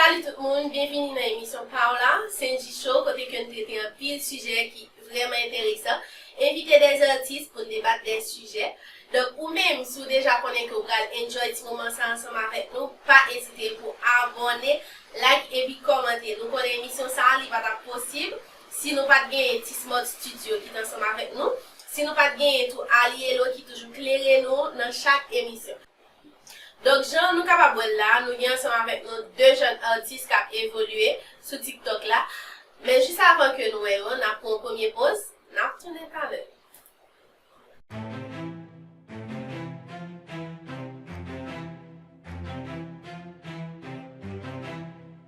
Salut tout moun, byenvini nan emisyon paw la, Cenji Show kote ke n trete anpil sijè ki vrèman enteresan, envite des artistes pou n debat des sujets. Donk ou menm si w deja konnen ke w pral enjoy ti moman sa ansanm avèk nou, pa ezite pou abòne, like epi kòmante. Nou konnen emisyon sa li pa tap posib si nou pat genyen T-Smart Studio ki t ansanm avèk nou, si nou pat genyen tou Alielo ki toujou klere nou nan chak emisyon. Donk jan nou kapab wè l la a, nou gen ansanm avèk nou 2 jèn atis k ap evolye sou TikTok la. Men jis avan ke nou wè yo, n ap pran yon premye poz, n ap tounen talè.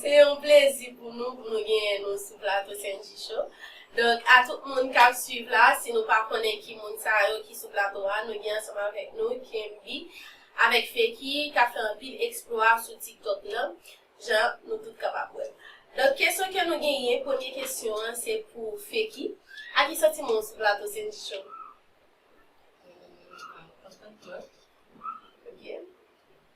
Se yon plezi pou nou pou nou genyen nou sou plato Sendji Show. Donk a tout moun k ap swiv la, si nou pa konnen ki moun sa yo ki sou plato a, nou gen ansanm avèk nou Kenby avèk Feki k ap fè anpil eksplwa sou TikTok lan, jan nou tout kapab wè. Donk kesyon ke nou genyen, premye kesyon an se pou Feki, a ki santiman ou sou plato Sendji Show? Mwen kontan twòp. Ok.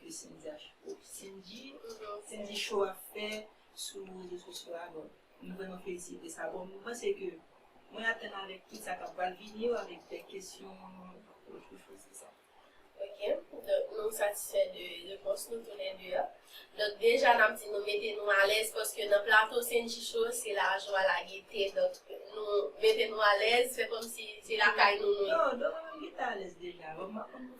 de Sendy a cho. Sendy Sendy cho ap fè sou rezo sosyo a bon m vrèman felisite sa bon m panse ke mwen atann avèk tout sa kap pral vini yo avèk bèl kesyon yo pou chwazi sa. Ok donk nou satisfè de repons nou tou lè 2 a donk deja nap di nou mete nou alèz paske nan plato Sendy cho se lajwa la gete donk nou mete nou alèz fè kòmsi se lakay nou nou ye. Non donk mwen menm m gentan alèz deja bon m pa konn.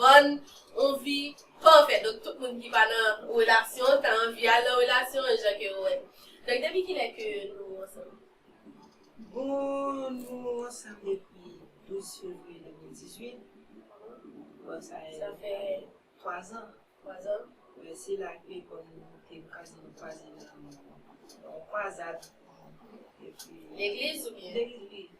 Vann on vi pafè donk tout moun ki pa nan relasyon ta anvi al nan relasyon an jan ke yo wè. Donk depi kilè ke nou ansanm? Bon nou ansanm depi 12 fevriye 2018 bon sa fè 3 zan. 3 zan. Wi se la ke bon nou te kwaze nou kwaze nan yon kwazad. Legliz oubyen? Legliz wi.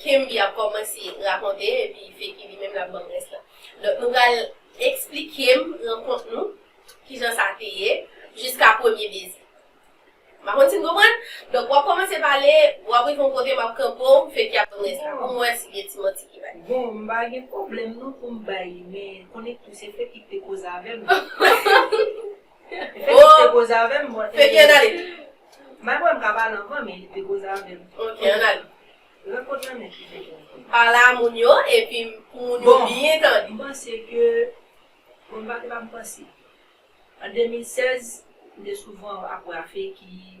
Kenby ap kòmanse rakonte epi Feki li menm lap banm rès la. Donk nou pral eksplikem rankont nou, kijan sa te ye, jiska premye beze. M pa konn si n konprann? Donk wap kòmanse pale, wap rive yon kote map kanpe w, Feki ap banm rès la pou m wè si gen ti manti ki bay. Bon, m pa gen pwoblèm non pou m bay li men, konnen tou se Feki ki te koze avè m. Fenix te koze avèm bon e. Fenky an ale. Bay pwen mka pale anvan men li te koze avèm. Ok an ale. Rankont lan nèt li fèt la. Pale a moun yo epi pou moun yo byen tande. Bon mpanse ke bon mpa te pa mpanse. An 2016 mte souvan ap wè a Fenky.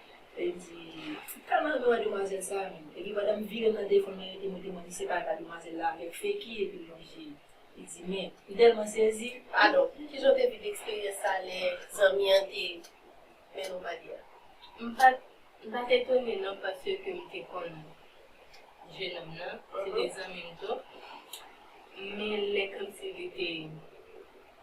Li di, Ti talan nou a demwazèl sa a menm. Epi pandan m vire m nan defann mwen rete mwen te mande se pa ta demwazèl la avèk Feki epi l lonje li. Li di, Men, m tèlman sezi. Padon, kijan w te viv eksperyans sa a lè zanmi an te mennen w pale a? M pa t, m pa t etone non paske m te konn jenòm nan, se te zanmi m tou. Men lè kòmsi li te.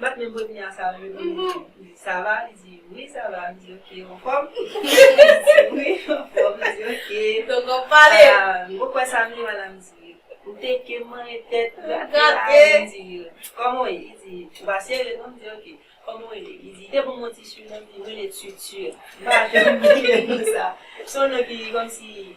Bat men body a sa yo di li sa va li di wi sa va m di ok ou anfòm wi m anfòm li di ok tonton m pale m poko wè sa m di madam di ou teke m mare tèt gate a m di kòman w ye li di ou pa serye non m di ok kòman w rele li di te ban m yon ti surnom m di m rele tutur m pa janm bliye non sa s yon non ki kòmsi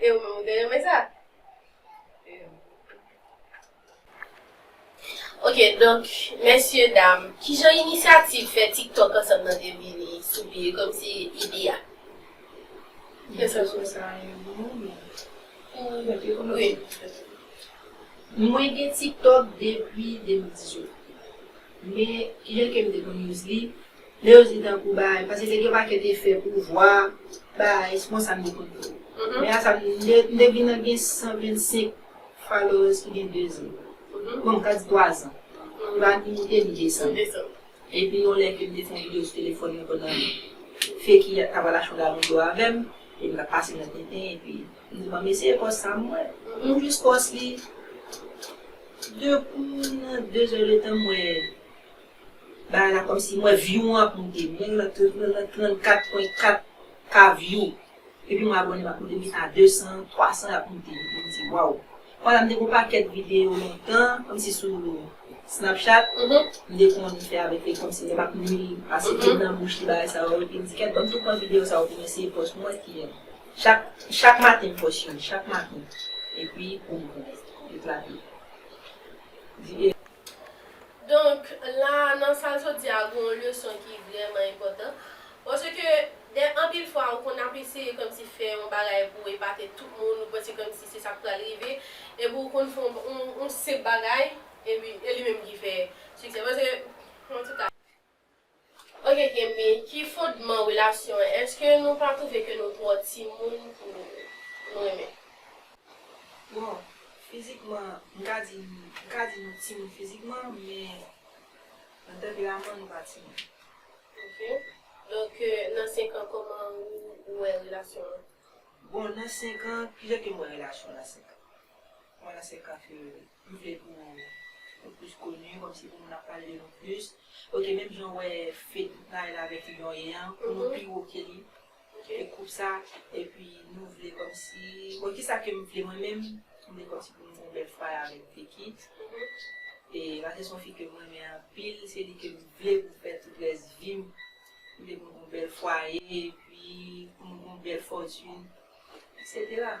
E ou menm ou te renmen sa? Ok donk mesye dam kijan inisyativ fè tiktok ansanm nan te vini sou pye komsi ide a. Mwen fè sou sa yon moman men mwen te kòmanse fè sa. Mwen gen tiktok depi 2018 men lè kem te konn use li Lè yo di tankou bay, pase te gen pakèt efè pouvwa, bay, se konsa m te konn wè yo. Men asa m te m te vin gen 125 followers ki gen 2 zan. Bon m ka di 3 zan. M pa ni moute ni desann. Epi yon lè ke m te fè yon video sou telefòn mwen pandan fi ki t ap al achte yon galon dlo avè m, epi m t ap pase nan tenten epi m di bon m eseye pòs sa m wè. M jis pòs li, de kou nan 2 zè de tan m wè. Bagay la kòmsi m wè view mwen ap moute. M genlè nan 34 pwen 4 ka view. Epi mwen abòne m ap moute vin a 200, 300 y ap moute. M di waw. Konsa m te gen yon pakèt videyo lontan kòmsi sou Snapchat. M te konn fè avèk li kòmsi lè m ap li pase pen nan bouch li bagay sa yo. Epi m di kèt banm tou pran videyo sa yo pou m eseye pòs mwen ki yèm. Chak chak maten m pòs youn. Chak maten. Epi boum. Eklate. Donk, la a, nan sal sot di a, gen yon leson ki vrèman enpòtan. Paske, gen anpil fwa ou konn ap eseye kòmsi fè yon bagay pou w epate tout moun, ou panse kòmsi se sa k pral rive, epi ou konn fè yon senp bagay, epi e li menm ki fè siksè. Paske, antouka. Ok Kemi, ki fondman relasyon an? Eske nou pa trouve ke nou twò timoun pou nou renmen? Bon, fizikman, m ka di, m ka di nou timoun fizikman, men nan tanperaman nou pa timoun. Ok. Donk nan 5 an kòman ou wè relasyon an? Bon, nan 5 an, kijan ke m wè relasyon nan 5 an? Mwen nan 5 an fye wi. M vle pou Nou plus connu komsi pou moun ap pale de Nou plus ok menm jan ou wè fedou pray la avèk lion an pou Nou pi wo ke li e koup sa epi Nou vle komsi bon kisa kem vle mwen menm m vle komsi pou Nou gon bèl fway avèk Vicky e paske son fi kem renmen anpil se li kem vle pou fè tout rès vim m vle pou Nou gon bèl fwaye epi pou Nou gon bèl fortune etc.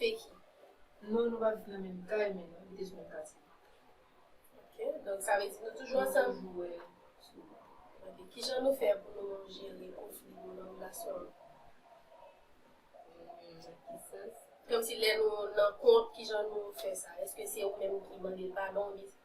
Feki, Non nou pa viv nan menm kay men nou abite sou menm katye. Ok, donk sa vle di nou toujou ansanm? Nou toujou wè souvan. Ok, kijan nou fè pou nou jere konfli yo nan relasyon an? Nan ki sans? Kòmsi lè nou nan kont kijan nou fè sa? Èske se ou menm ki mande l padon oubyen se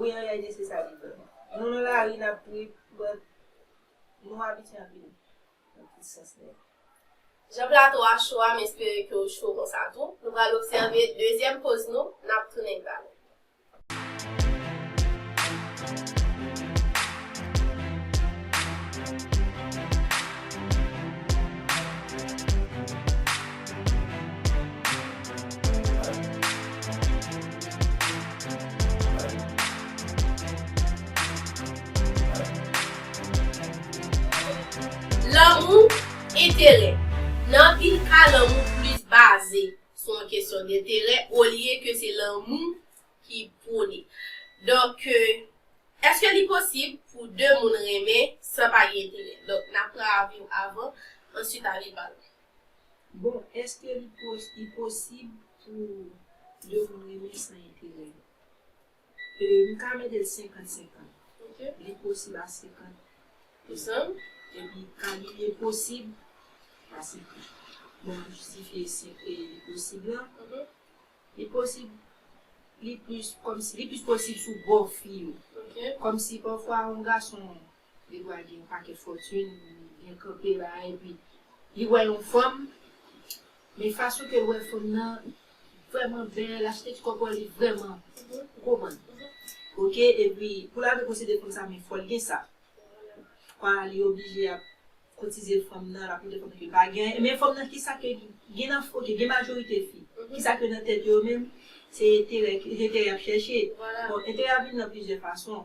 Wi an reyalite se sa li ye. Nou nan lari nap trip but nou abitye anpil nan tout sans nèt. Jan plato a cho a m espere ke w cho konsa tou. Nou pral obsève dezyèm poz nou, nap tounen ba nou. Lanmou, enterè. Nan anpil ka lanmou plis baze sou yon kesyon denterè olye ke se lanmou ki pwone. Donk, èske li posib pou de moun renmen san pa gen enterè? Donk, n ap pran avi w avan, answit avi pa lòt. Bon eske li posib pou 2 moun renmen san enterè? M ka mete l 50 50. Li posib a 50 pousan epi ka li enposib a 50. Bon map jistifye li posib la. Li posib li plis kòmsi li plis posib sou bò fi yo. Kòmsi pafwa yon gason Li dwe al gen yon pakèt fòtune, byen kanpe la a epi li wè yon fanm, men fason ke l wè fanm nan vrèman bèl, aspè ti kòpòl li vrèman, ou konprann? Ok, epi pou l arive posede fanm sa men fò l gen sa. Kwa li oblije ap kotize fanm nan, l ap montre fanm nan ke l pa gen anyen, men fanm nan kisa ke gen nan, ok gen majorite fi, kisa ke nan tèt yo yo menm, se enterè, enterè y ap chèche. Bon, enterè a vin nan plizyè fason.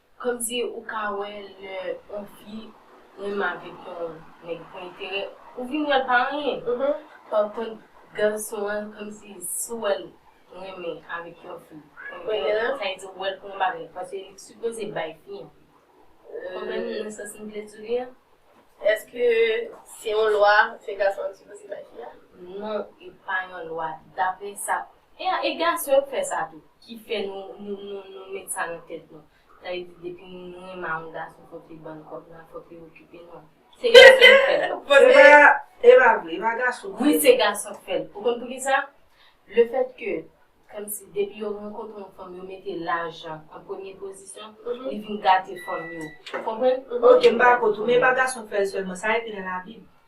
Komsi ou ka wè lè on fi menm avèk yon nèg pou enterè, ou vin wèl pa anyen. Par kont gason an komsi si w wèl renmen avèk yon fi pou enterè, sa vle di ou wèl pou yon bagay paske li sipoze bay fi an. Ou konprann nan sans m vle di w li an? Eske se yon lwa se gason an ki sipoze bay fi a? Non, e pa yon lwa. Daprè sa E a e gason yo k fè sa tou ki fè nou nou nou nou met sa nan tèt nou sa vle di depi nou nou renmen a yon gason fòk li bann kòb la fòk li okipe nou se gason yo k fè sa Epa epa vre epa gason k fè Wi se gason k fè l ou konn poukisa le fèt ke kòmsi depi yo rankontre yon fanm yo mete lajan an premye pozisyon li vin gate fanm yo ou konprann ok m dakò tou men epa gason k fè l sèlman sa ekri nan labib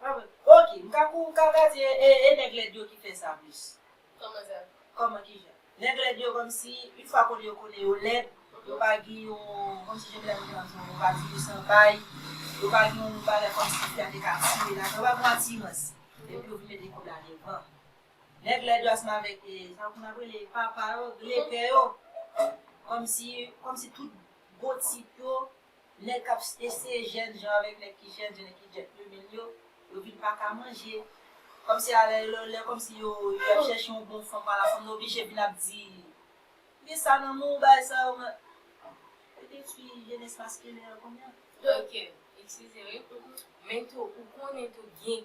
Ok m ka pou kaka di e nèg lèd yo ki fè sa plis. Kòman sa? Kòman kijan? Nèg lèd yo kòmsi yn fwa konnen yo konnen yo lèd, yo pa gen yon kòmsi jan medam yo di an yon pati yo san bay, yo pa gen yon bagay kòmsi fi a te ka tire ladan, yo pa gen yon atirans. Epi yo vin mete kòb la devan. Nèg lèd yo ansanm avèk e sa yo konn ap rele papa yo, glepè yo, kòmsi kòmsi tout gwo tip yo Nèg kap eseye jèn jan avèk nèg ki jèn jan e ki djèt plumin yo, yo vin pa ka manje. Kòmsi a lè yo lè kòmsi yo yo ap chèche yon bon fanm ala fanm nan oblije vin ap di Gen sa nan menw bagay sa yo mwen Yo detwi jenès maskilen an kounya. Ok, eskize wi. Men tou ou konnen tou gen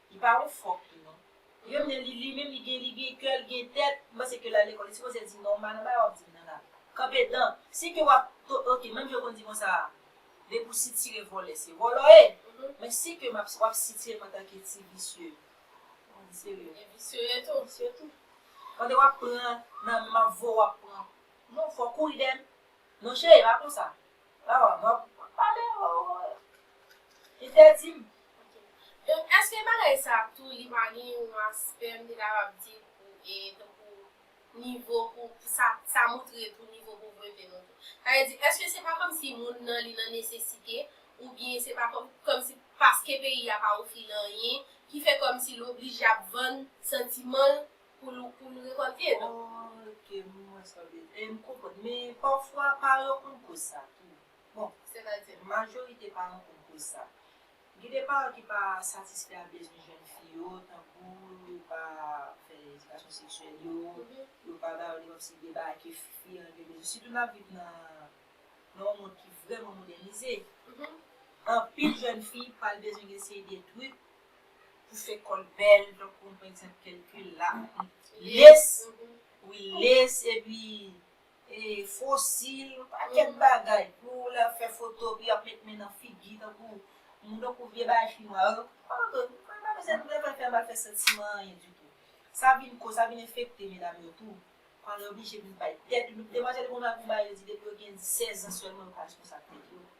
Li pa yon fòk li non. Li menm lè li li menm li gen li gen kè li gen tèt li panse ke lal lekòl li sipoze di non man nan bagay wap dim nan la kanpe dan si ke wap to ok menm jan yo konn di konsa a depi ou sitire vòlè se vòlò ye men si ke map wap sitire m antanke ti visye bon li serye e visye ye tou visye tou pandan wap pran nan menm map voye wap pran non fòk ou ri dèm non cheri e pa konsa Maman map pale hoo. Li te dim ok. Donk eske bagay sa tou li pa gen yon aspè m te kapab di pou e tankou nivo pou sa sa moutre tou nivo povrete nou tou. Sa vle di eske se pa kòmsi moun nan li nan nesesite oubyen se pa kòm kòmsi paske peyi a pa ofri l anyen ki fè kòmsi l oblije ap vann santiman l pou nou rekòlte yo. Ok m wè sa w vle di. M konprann. Men pafwa paran yo konn koz sa tou. Bon, sètadi majorite paran konn koz sa. Gen de paran ki pa satisfè a bezwen jèn fi yo, tankou yo pa fè edikasyon seksyèl yo, yo pa ba yo li kòmsi de bagay ke fi an gen bezwen. Sitou n ap viv nan yon mond ki vrèman modènize. Anpil jèn fi pral bezwen gen seri de trik pou fè kòl bèl tankou pa egzanp kèlkil la, les, wi les epi e fosil yon pakèt bagay pou w lè w fè foto epi ap met men nan figi tankou moun tankou vye bagay chinwa yo anfen m pa bezwen m bezwen fè m pa fè santiman anyen ditou sa vin ko sa vin enfekte medam yo tou pandan yo oblije vin bay tèt yo demwazèl yo konn al pou bay yo di depi yo gen 16 ans sèlman yo ka responsab tèt yo.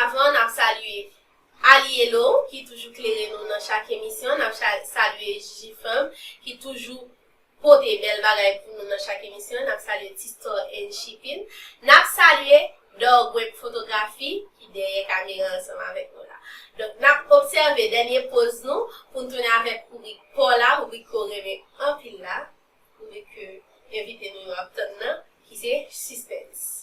Avan nap salye Alielo ki toujou klere nou nan chak emisyon, nap salye Jfem ki toujou pote bèl bagay pou nou nan chak emisyon, nap salye T-Store and Shipping, nap salye Dorgweb Fotografi ki dèyè kamera ansanm avèk nou la. Donk nap obsève dènye poz nou pou n tounen avèk rubrik paw la, rubrik ke w renmen anpil la, rubrik ke envite nou yo ap tann nan ki se Sispens.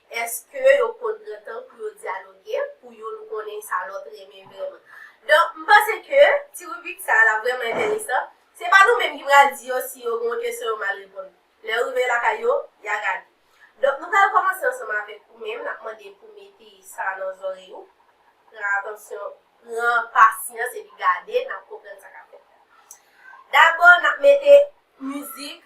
Eske yo konn pran tan pou yo dyaloge, pou youn konnen sa lòt renmen vrèman? Donk, m panse ke ti ribrik sa a l ap vrèman enteresan. Se pa nou menm ki pral di yo si yo gen yon kesyon yo mal reponn. Lè yo rive lakay yo, y a gade. Donk, nou pral kòmanse ansanm avèk ou menm. N ap mande pou w mete sa nan zòrèy ou. Pran atansyon, pran pasyans epi gade, n ap konprann sa k ap fèt la. Dabò, n ap mete mizik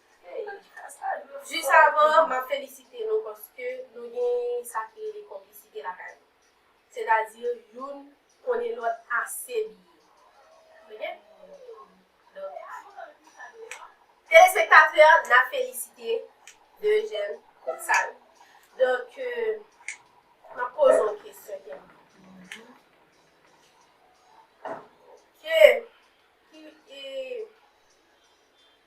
Jis avan an, m ap felisite nou paske nou gen sa ki rele konplisite lakay nou. Sètadi youn konnen lòt ase byen. Ok? Donk, telespektatè, n ap felisite de jèn koup sa yo. Donk, m ap poze yon kesyon kèk minit. Ok. Ki e...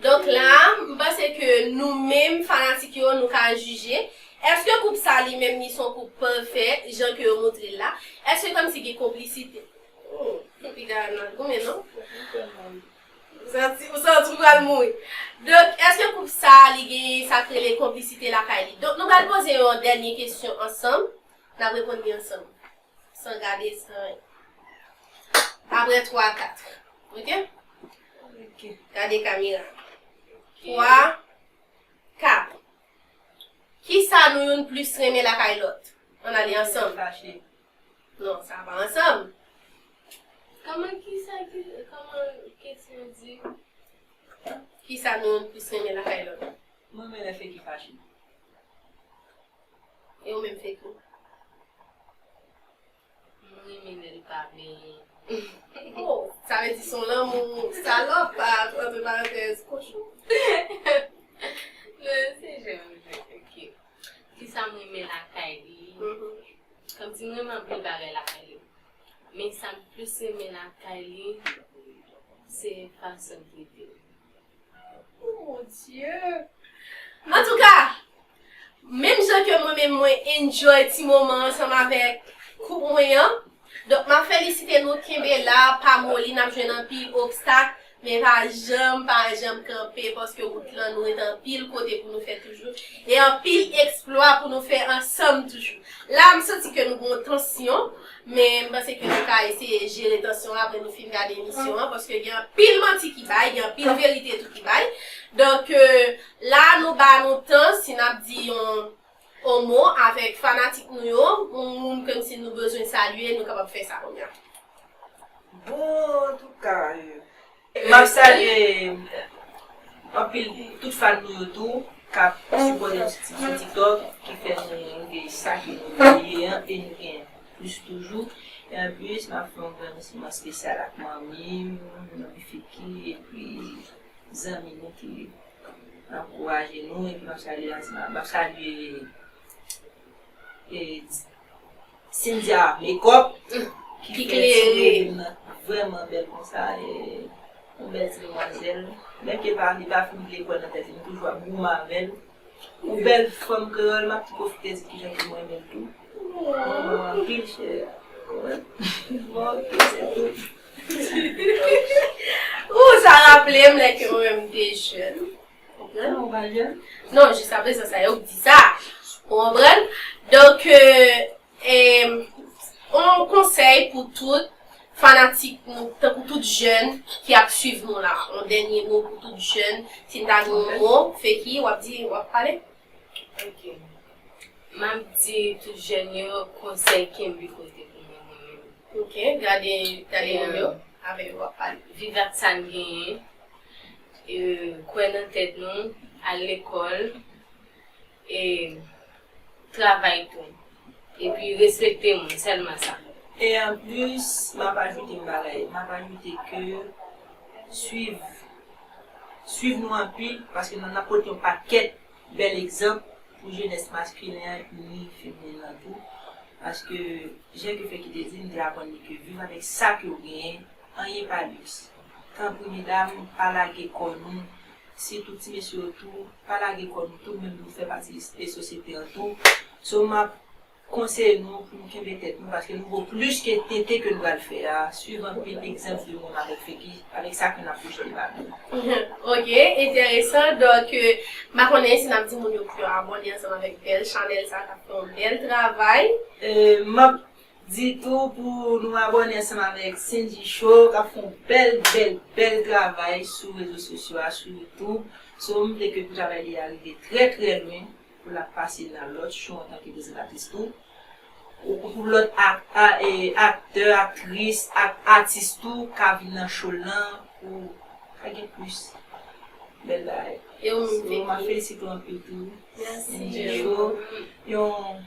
Donk la a, m panse ke nou menm fanatik yo nou ka jije, èske koup sa li menm li son koup pafè jan ke yo montre l la? Èske kòmsi gen konplisite? Oh, piga a nan goumen non. Ou santi, ou santi w pral mouri. Donk, èske koup sa a li gen sa k rele konplisite lakay li? Donk nou pral poze yon dènye kesyon ansanm, n ap reponn li ansanm. San gade, san. Aprè twa, kat. Ok? Gade kamera. Twa, kat. Kisa nou youn plis renmen lakay lòt? Ann ale ansanm. Non, sa pa ansanm. Kòman kisa ki, kòman kesyon an di? Kisa nou youn plis renmen lakay lòt? M renmen lè Feki fache. E ou menm Feki? M renmen lel pa benyen. Oh sa vle di son lanmou salop entre parenthèses kochon. Non se jwèt m jwe ok. Kisa m renmen lakay li Kom si m renmen anpil bagay lakay li men sa m plis renmen lakay li se fason l trete m. Antouka, menm jan ke mwen menm mwen enjoy ti moman ansanm avèk koup mwen an, donk map felisite nou kenbe la pa moli nap jwenn anpil obstak men pa janm pa janm kanpe paske wout lan nou ret anpil kote pou nou fè toujou e anpil eksplwa pou nou fè ansanm toujou. La m santi ke nou gen yon tansyon. Men m panse ke nou ka eseye jere tansyon an apre nou fin gade emisyon an paske gen anpil manti ki bay, gen anpil verite tou ki bay. Donk la a nou ba nou tan si n ap di yon on mo avèk fanatik nou yo, on moun ke m si nou bezwen salye nou kapab fè sa kounya. Bon antouka. Map salye anpil tout fan nou yo tou kap sipòte Titid sou tiktok ki fè nou rive sa ke nou ye an e nou gen plis toujou e anplis map fè yon remèsiman espesyal ak manmim, manmi Fiky epi zanmi nou ki ankouraje nou epi map salye Asma map salye. Cynthia mekòp ki fè ti revem nan vrèman bèl konsa yon bèl ti demwazèl menm ke pa li pa fin lekòl nan tèt li m toujou ap goumen avèl ou bèl fanm kreyòl map tou pwofite di kijan ke m renmen l tou m renmen w anpil chère bon ok se tou. Ooh sa raplem lè ke mwen menm m te jèn. Konprann ou pa jwenn? Non, jiska prezan sa yo k di sa. Ou konprann? Donk, yon konsèy pou tout fanatik nou, tankou tout jèn ki ap swiv nou la. Yon dènye mo pou tout jèn. Si n ta gen yon mo, Feki, w ap di, w ap pale? Ok. M ap di tout jèn yo konsèy kenbe kote pou nou mwen menm. Ok. Gade yon yo. Avè yo w ap pale. Viv ak sa n genyen. kwè nan tèt nou, al lekòl, e travay tou. Epi respekte moun, sèlman sa. E anplis, m ap ajoute yon bagay. M ap ajoute ke swiv, swiv nou anpil, paske nou ap pote yon pakèt bèl egzanp pou jenès maskilen an ni feminen an tou. Paske, jan Kefeky te di, nou te aprann li ke viv avèk sa ke ou genyen, anyen pa liks. Tanpri medam pa lage kò nou sitou ti mesye yo tou pa lage kò nou tou menm nou fè pati de sosyete an tou so map konseye nou pou nou kenbe tèt nou paske nou vo plis ke tenten ke nou pral fè a swiv anpil egzanp de moun avèk figi avèk sa ke nap pwojte ba nou. Ok enteresan donk m pa konnen si nap di moun yo pou yo abòne ansanm avèk bèl chanèl sa kap fè yon bèl travay. Map Di tou pou nou abòne ansanm avèk Sendji Show kap fè yon bèl bèl bèl travay sou rezo sosyo a sou YouTube so m vle ke pou travay li a rive trè trè lwen pou l ap pase nan lòt show antanke prezantatris tou ou pou lòt aktè aktris ak atis tou ka vin nan show l lan pou ka gen plis bèl bagay so map felisite w anpil tou Sendji Show yon.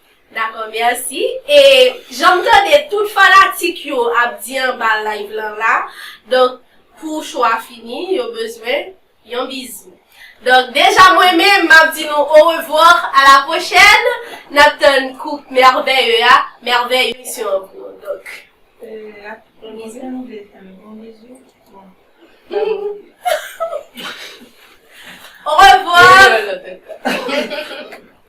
Dakò merci e janm tande tout fanatik yo ap di anba live lan la donk pou show a fini yo bezwen Yon bizou donk deja mwen menm map di nou au revoir à la prochaine nap tann koup merveilleux a merveille misyon an pou ou donk Yon bizou Au revoir.